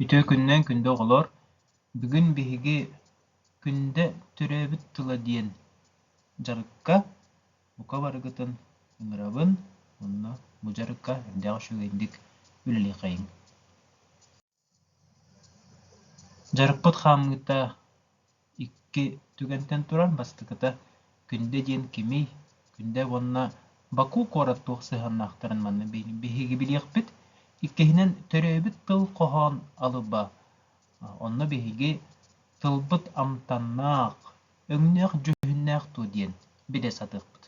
Үтүө күннээн күндү оҕолоор, бүгүн биһиги Күндэ төрөөбүт тыла диэн дьарыкка бука барыгытын ыҥырабын уонна бу дьарыкка элбэх үчүгэйдик үлэлиэххэйиҥ Дьарыкпыт хаамыыта икки түгэнтэн туран бастакыта Күндэ диэн кимий, Күндэ уонна Баку куорат туох сыһыаннаахтарын манна биһиги билиэхпит. Иккиһинэн, төрөөбүт тыл хоһоон алыба. Онно биһиги тылбыт амтаннаах, өҥнөөх дьүһүннээх дуо диэн билэ сатыахпыт.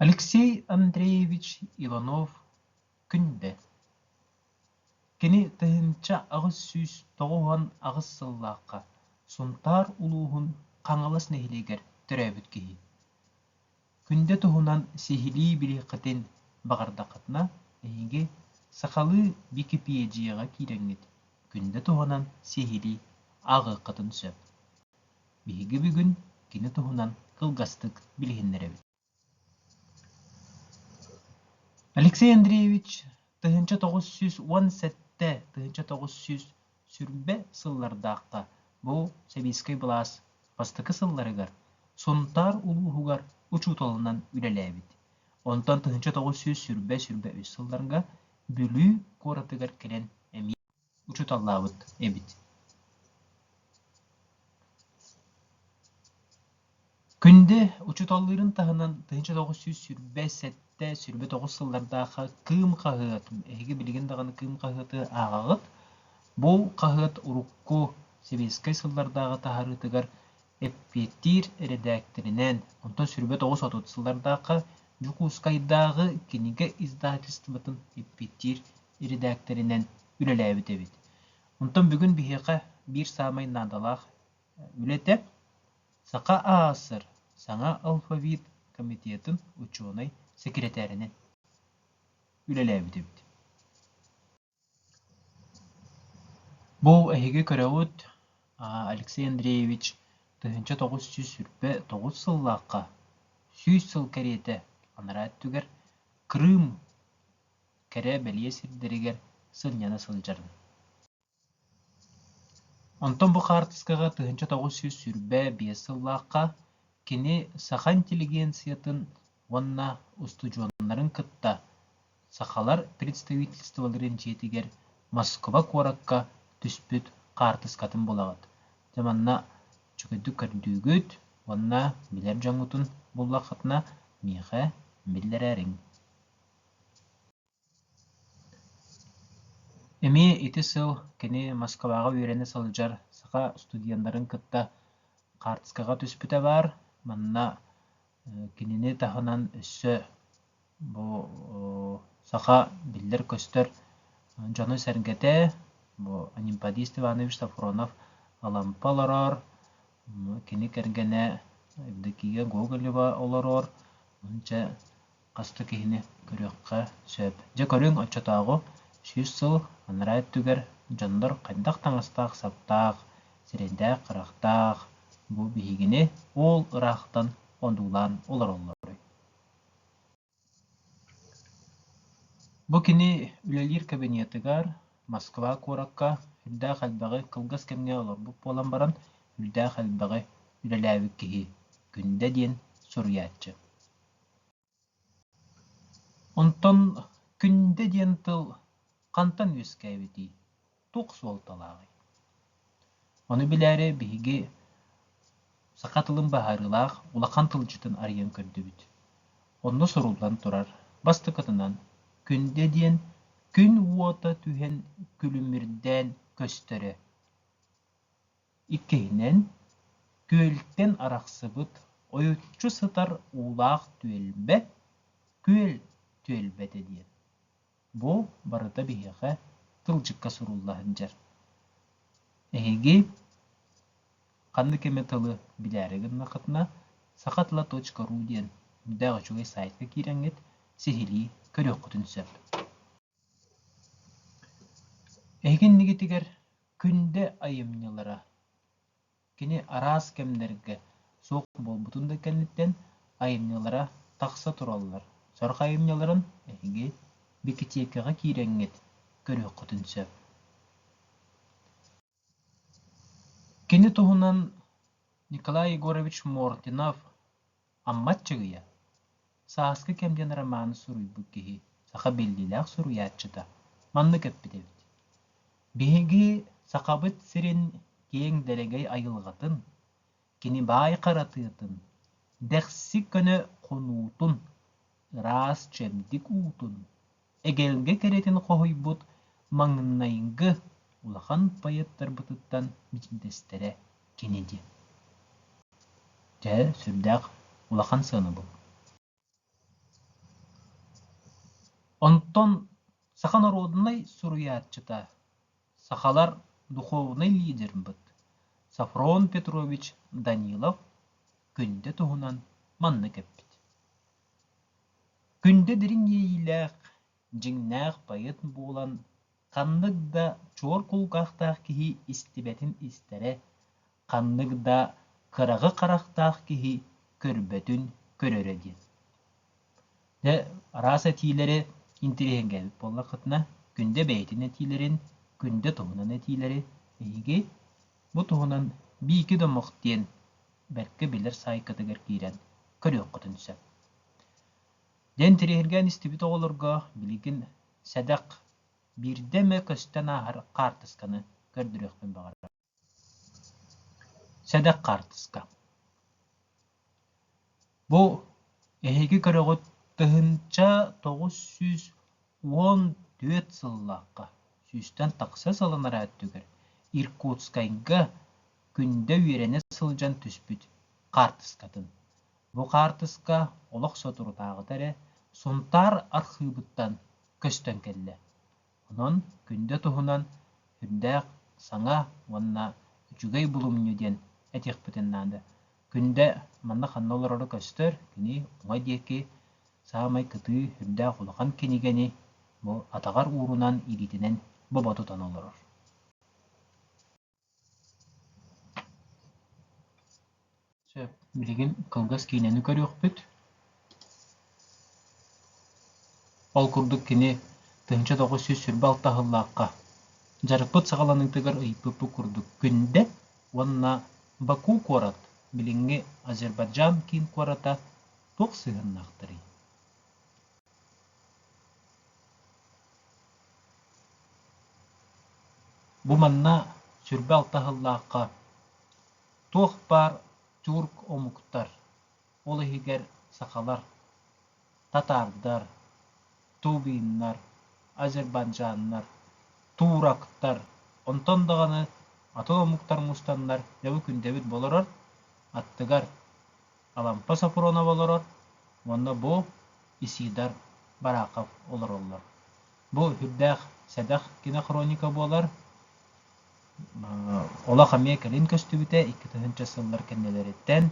Алексей Андреевич Иванов күндэ, кини тыһыынча аҕыс сүүс тоҕус уон аҕыс сыллаахха Сунтаар улууһун Хаҥалас нэһилиэгэр төрөөбүт киһи. Күндэ туһунан сиһилии билиэххитин баҕардаххытына, эһиги сахалыы Википедияҕа киирэҥҥит күндэ туһунан сиһилии ааҕыаххытын сөп Биһиги бүгүн кини туһунан кылгастык билиһиннэрэбит Алексей Андреевич тыһыынча тоҕус сүүс уон сэттэ тыһыынча тоҕус сүүс сүрбэ сыллардаахха бу сэбиэскэй былаас бастакы сылларыгар Сунтаар улууһугар учууталынан үлэлээбит. Онтон тыһыынча тоҕус сүүс сүрбэ-сүрбэ үс сылларга Бүлүү куоратыгар кэлэн эмиэ учууталлаабыт эбит күндү учууталлыырын таһынан тыһыынча тоҕус сүүс сүүрбэ сэттэ сүүрбэ тоҕус сыллардаахха кыым хаһыатын эһиги билигин даҕаны кыым хаһыаты ааҕаҕыт бу хаһыат урукку сэбиэскэй сыллардааҕы таһарыытыгар эппиэттиир эрэдээктэринээн онтон сүүрбэ тоҕус отут сыллардаахха дьокуускайдааҕы кинигэ издательствотын эппиэттиир ирэдээктэринэн үлэлээбит эбит. Онтон бүгүн биһиэхэ биир саамай наадалаах үлэтэ Саха АССР саҥа алфавит комитетын учуонай сэкирэтээринэн үлэлээбит эбит. Бу эһиги көрөҕүт Алексей Андреевич тыһыынча тоҕус сүүс сүүрбэ тоҕус сыллаахха сүүс сыл кэриэтэ анараа өттүгэр Крым кэрэ-бэлиэ сирдэригэр сынньана сылдьарын. Онтон бу хаартыскаҕа тыһыынча тоҕус сүүс сүүрбэ биэс сыллаахха кини саха интеллигенциятын уонна устудьуоннарын кытта сахалар представительстволарын дьиэтигэр Москва куоракка түспүт хаартыскатын булаҕыт. Дьэ манна үчүгэйдик көрдүүгүт уонна билэр дьоҥҥутун буллаххытына миэхэ биллэрээриҥ эмиэ ити сыл кини москваҕа үөрэнэ сылдьар саха студеннарын кытта хаартыскаҕа түспүтэ баар манна кинини таһынан өссө бу саха биллэр-көстөр дьону-сэргэтэ бу анемподист иванович софронов алампа олороор кини кэргэнэ евдокия гоголева олорор уонча хас да киһини көрүөххэ сөп. Дьэ көрүҥ оччотооҕу сүүс сыл анараа өттүгэр дьоннор хайдах таҥастаах-саптаах, сирэйдээх-харахтаах бу биһигини уол ыраахтан одуулаан олороллоруй? Бу кини үлэлиир кабинетыгар Москва куоракка үрдээх элбэҕи кылгас кэмҥэ олорбут буолан баран үрдээх элбэҕи үлэлээбит киһи Күндэ диэн суруйааччы. Онтон Күндэ диэн тыл хантан үөскээбитий, туох суолталааҕый? Ону билээри биһиги саха тылын быһаарыылаах улахан тылдьытын арыйан көрдүбүт. Онно суруллан турар бастакытынан Күндэ диэн күн уота түһэн күлүмүрдээн көстөрө. Иккиһинэн, күөлтэн арахсыбыт ойуччу сытар уулаах түөлбэ, күөл түөлбэтэ диэн. Бу барыта биһиэхэ тылдьыкка сурулла сылдьар. Эһиги ханнык эмэ тылы билээри гыннахытына, сахатыла.ру диэн мөлтөх үчүгэй саайтка киирэҥҥит, сиһилии көрүөххүтүн сөп. Иһитиннигитигэр Күндэ айымньылара кини араас кэмнэргэ суох буолбутун да кэнниттэн айымньылара тахса тураллар. Сорох айымньыларын эһиги бикитиэкэҕэ киирэҥҥит көрүөххүтүн сөп Кини туһунан Николай Егорович Мординов Амма Чыгыйа сааскы кэм диэн романы суруйбут киһи, саха биллиилээх суруйааччыта маннык эппит эбит «Биһиги Сахабыт сирин киэҥ дэлэгэй айылҕатын, кини баай харатыатын, дэхси көнө хонуутун, ыраас чэбдик уутун эгэлгэ кэрэтин хоһуйбут маҥнайгы улахан поэттарбытыттан биирдэстэрэ кини диэн Дьэ, сүрдээх улахан сыанабыл. Онтон саха норуодунай суруйааччыта, сахалар духуобунай лидербыт Софрон Петрович Данилов күндэ туһунан маннык эппит: Күндэ дириҥ иэйиилээх, дьиҥнээх поэт буолан, ханнык да чуор кулгаахтаах киһи истибэтин истэрэ, ханнык да кыраҕы харахтаах киһи көрбөтүн көрөрө диэн. Дьэ, араас этиилэри интириэһин кээбит буоллаххытына, Күндэ бэйэтин этиилэрин, Күндэ туһунан этиилэри эһиги Бу туһунан Биики домох диэн бэркэ билэр саайкатыгар киирэн көрүөххүтүн сөп. Диэн тириэһиргээн истибит оҕолорго билигин сэдэх биирдэ эмэ көстөн ааһар хаартысканы көрдөрүөхпүн баҕарабын. Сэдэх хаартыска. Бу эһиги көрөҕүт тыһыынча тоҕус сүүс уон түөрт сыллаахха сүүстэн тахса сылланара өттүгэр Иркутскайга күндэ үөрэнэ сылдьан түспүт хаартыскатын. Бу хаартыска олох соторутааҕыта эрэ Сунтаар архыыбыттан көстөн кэллэ Онон күндү туһунан үрдээх саҥа уонна үчүгэй булумньу диэн этиэхпитин наада. Күндэ манна ханна олорору көстөр, кини уҥа диэки саамай кытыы үрдээх улахан кинигэни бу атаҕар уурунан ириитинэн бобо тутан олорор. Сөп, билигин кылгас киинэни көрүөхпүт. Ол курдук кини тыһыынча тоҕус сүүс сүүрбэ алта сыллаахха дьарыкпыт саҕаланыытыгар ыйыппыппыт курдук Күндэ уонна Баку куорат, билиҥҥи Азербайджан киин куората туох сыһыаннаахтарый? Бу манна сүрбэ алта сыллаахха туох баар тюрк омуктар, ол иһигэр сахалар, татаардар, тувиннар, азербайджаннар, турактар, онтон даҕаны атын омуктар мустаннар дьэ бу күндэбит болорор аттыгар Алампа Сопронова олорор уонна бу Исидар Барахов олороллор. Бу үрдээх сэдэх кинохроника буолар. Олох эмиэ кэлин көстүбүтэ икки тыһыынча сыллар кэннилэриттэн.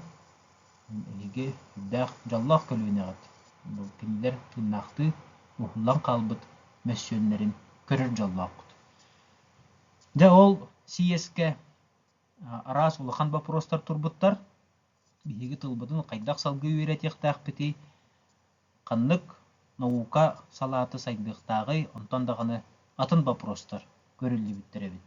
Биһиги үрдээх дьоллоох көлүөнэҕит бу кинилэр тыыннаахтыы уһуллан хаалбыт мөссүөннэрин көрөр дьоллооххут. Дьэ ол сийиэскэ араас улахан боппуруостар турбуттар. Биһиги тылбытын хайдах салгыы үөрэтиэхтээхпитий, ханнык наука салаата сайдыахтааҕый, онтон даҕаны атын боппуруостар көрүллүбүттэр эбит.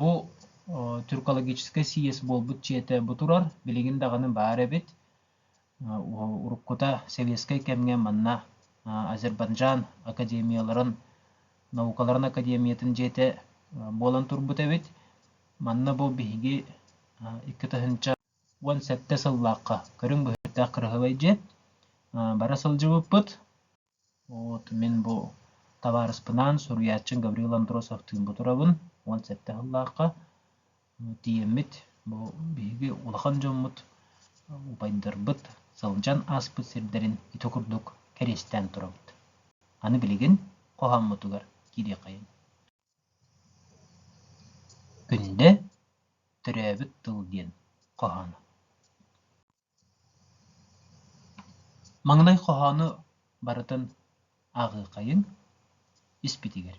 Бу тюркологическай сийиэс буолбут дьиэтэ бу турар, билигин даҕаны баар эбит. Уруккута сэбиэскэй кэмҥэ манна Азербайджан академияларын наукаларын академиятын дьиэтэ буолан турбут эбит. Манна бу биһиги икки тыһыынча уон сэттэ сыллаахха көрүҥ быһыытаах кыраһыабай дьиэ бара сылдьыбыппыт вот мин бу табаарыспынаан суруйааччым гаврил андросовтыын бутурабын уон сэттэ сыллаахха тиийэммит бу биһиги улахан дьоммут убайдарбыт сылдьан ааспыт сирдэрин ити курдук кэриэстээн турабыт аны билигин хоһооммутугар киириэххэйиҥ Үллэ, төрөөбүт тыл диэн хоһооно Маҥнай хоһоону барытын ааҕыаххайыҥ испитигэр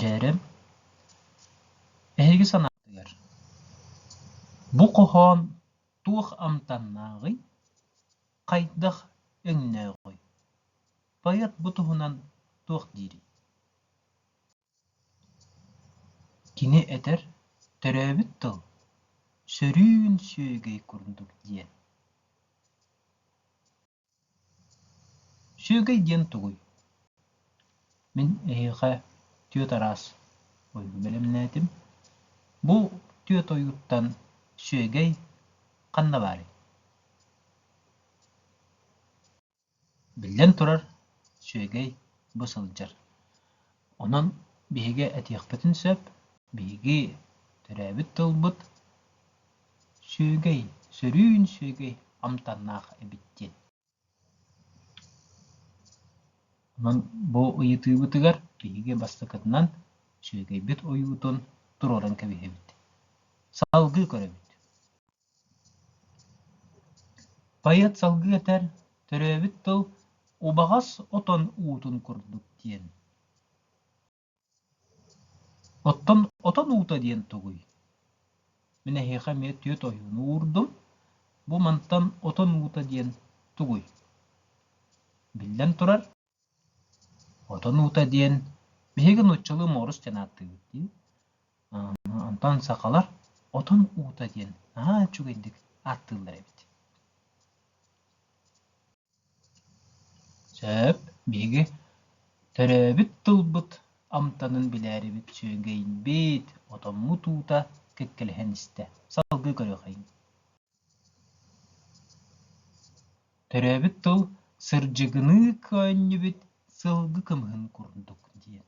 Дьээрим, эһиги санаатыгар, бу хоһоон туох амтаннааҕый, хайдах өҥнөөҕүй, поэт бу туһунан туох диирий? Кини этэр «Төрөөбүт тыл сөрүүн сүөгэй курдук» диэн. Сүөгэй диэн тугуй? Мин эһиэхэ түөрт араас ойууру бэлэмнээтим. Бу түөрт ойууттан сүөгэй ханна баарый? Биллэн турар, сүөгэй бу сылдьар. Онон биһиги этиэхпитин сөп, биһиги төрөөбүт тылбыт сүөгэй, сөрүүн сүөгэй амтаннаах эбит диэн. Онон бу ыйытыыбытыгар биһиги бастакытынан сүөгэйбит ойуутун туруоран кэбиһэбит. Салгыы көрөбүт. Поэт салгыы этэр: «Төрөөбүт тыл убаҕас отон уутун курдук диэн» Оттон отон уута диэн тугуй? Мин эһиэхэ эмиэ түөрт ойууну уурдум. Бу мантан отон уута диэн тугуй? Биллэн турар, Отон уута диэн биһиги нууччалыы муорус диэн ааттыыбыт дии. Онтон сахалар отон уута диэн наһаа үчүгэйдик ааттыыллар эбит. Сөп, биһиги төрөөбүт тылбыт амтанын билээрибит, сүөгэйбит, отоммут уута кэккэлэһэн истэ. Салгыы көрүөхэйиҥ. төрөөбүт тыл сырдьыгыныы көөнньүбүт сылгы кымыһын курдук диэн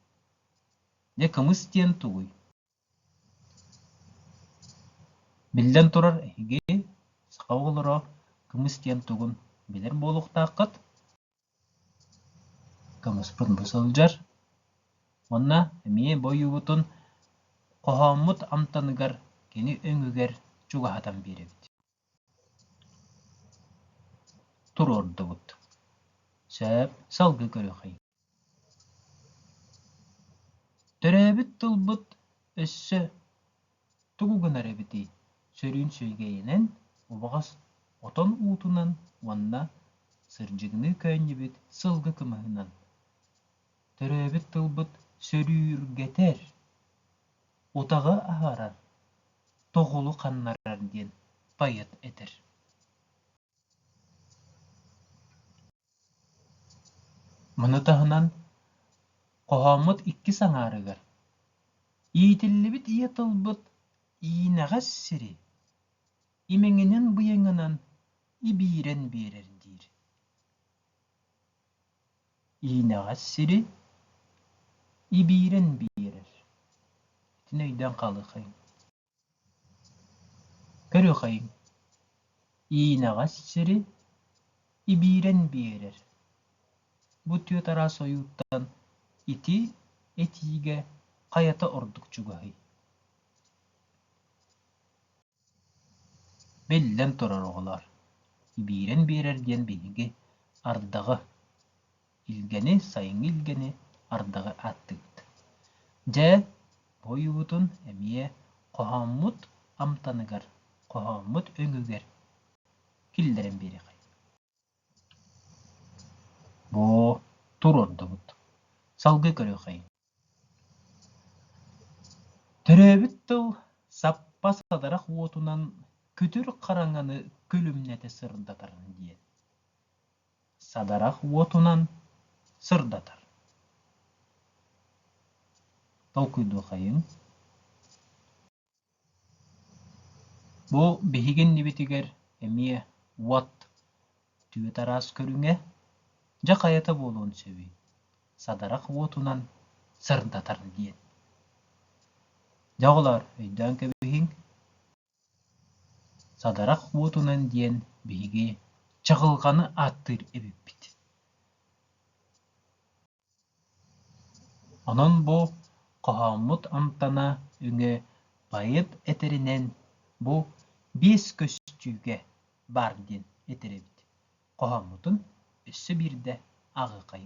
дьэ кымыс диэн тугуй биллэн турар эһиги саха оҕолоро кымыс диэн тугун билэр буолуохтааххыт Кымыспын бу сылдьар уонна эмиэ бу ойуубутун хоһооммут амтаныгар кини өҥүгэр чугаһатан биэрэбит туруордубут сөп салгыы көрүөххэ төрөөбүт тылбыт өссө тугу гынар эбитий? сөрүүн сүөгэйинэн, убаҕас отон уутунан уонна сырдьыгыныы көөнньүбүт сылгы кымыһынан, төрөөбүт тылбыт сөрүүргэтэр, утаҕы аһарар, тоҕулу ханнарар диэн поэт этэр Маны таһынан, хоһооммут иккис аҥаарыгар иитиллибит ийэ тылбыт иинэҕэс сири имэҥинэн-быйаҥынан ибиирэн биэрэр диир. Иинэҕэс сири ибиирэн биэрэр. Итини өйдөөн хаалыаххайыҥ. Көрүхэйим, иинэҕэс сири ибиирэн биэрэр, бу түөрт араас ойууттан ити этиигэ хайата ордук чугаһый? Биллэн турар, оҕолоор, ибиирэн биэрэр диэн биһиги ардаҕы илгэни, сайыҥҥы илгэни ардаҕы аттыыт. Дьэ, бу ойуутун эмиэ хоһооммут амтаныгар, хоһооммут өҥүгэр киллэрэн биэриэххэ. Бoo, тур ордубут. Салгыы көрүөххэ. төрөөбүт тыл саппас атарах уотунан күтүр хараҥаны күлүмнэтэ сырдатар диэн садарах уотунан сырдатар толкуйдуохайыҥ Бу биһиги иннибитигэр эмиэ уот түөрт араас көрүҥэ, дьэ хайата буолуон сөбүй, садарах уотунан сырдатар диэн. Дьэ оҕолоор, өйдөөн кэбиһиҥ, садарах уотунан диэн биһиги чаҕылҕаны ааттыыр эбиппит. Онон бу хоһооммут амтана өҥө поэт этэринэн бу биэс көстүүгэ баар диэн этэрэбит хоһооммутун өссө биирдэ аҕыкай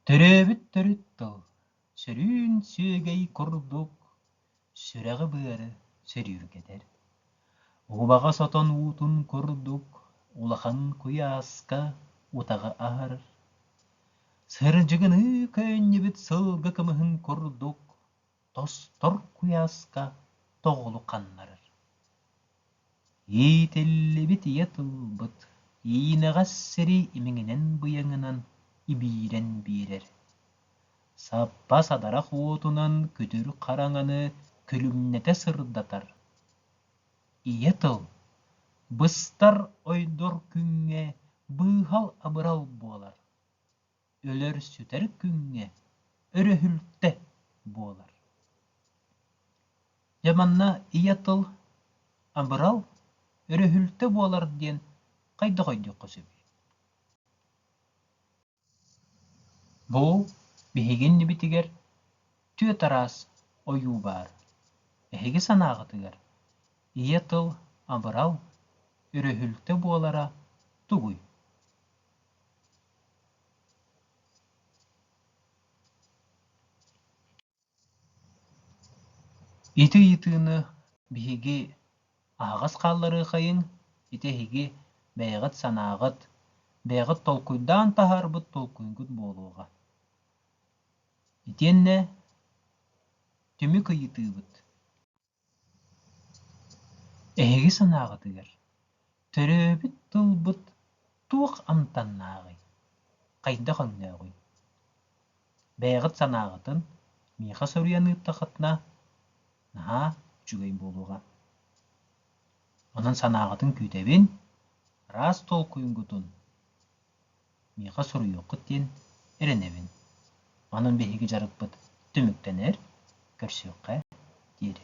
Төрөөбүт төрүт тыл сөрүүн сүөгэй курдук сүрэҕи-быары сөрүүргэтэр. Убаҕа сотон уутун курдук улахан куйааска утаҕы аһар. Сырдьыгыныы көөнньүбүт сылгы кымыһын курдук тостор куйааска тоҕулу ханнарар. Иитиллибит ийэ тылбыт иинэҕэс сири имиҥинэн-быйаҥынан ибиирэн биэрэр. Саппас адарах уотунан күтүр хараҥаны күлүмнэтэ сырдатар. Ийэ тыл быстар ойдор күҥҥэ быыһал-абырал буолар. өлөр-сүтэр күҥҥэ өрөһүлтэ буолар. Дьэ манна ийэ тыл абырал, өрөһүлтэ буолар диэн хайдах өйдүөххэ сөбүй? Бу биһиги иннибитигэр түөрт араас ойуу баар. Эһиги санааҕытыгар ийэ тыл абырал, өрөһүлтэ буолара тугуй? Ити ыйытыыны биһиги аһаҕас хаалларыаххайыҥ, ити эһиги бэйэҕит санааҕыт, бэйэҕит толкуйдаан таһаарбыт толкуйгут буолуоҕа. Итиэннэ түмүк ыйытыыбыт. Эһиги санааҕытыгар төрөөбүт тылбыт туох амтаннааҕый, хайдах өҥнөөҕүй? Бэйэҕит санааҕытын миэхэ суруйан ыыттаххытына наһаа үчүгэй буолуоҕа. Онон санааҕытын күүтэбин, араас толкуйгутун миэхэ суруйуоххут диэн эрэнэбин онон биһиги дьарыкпыт түмүктэнэр көрсүөххэ диэри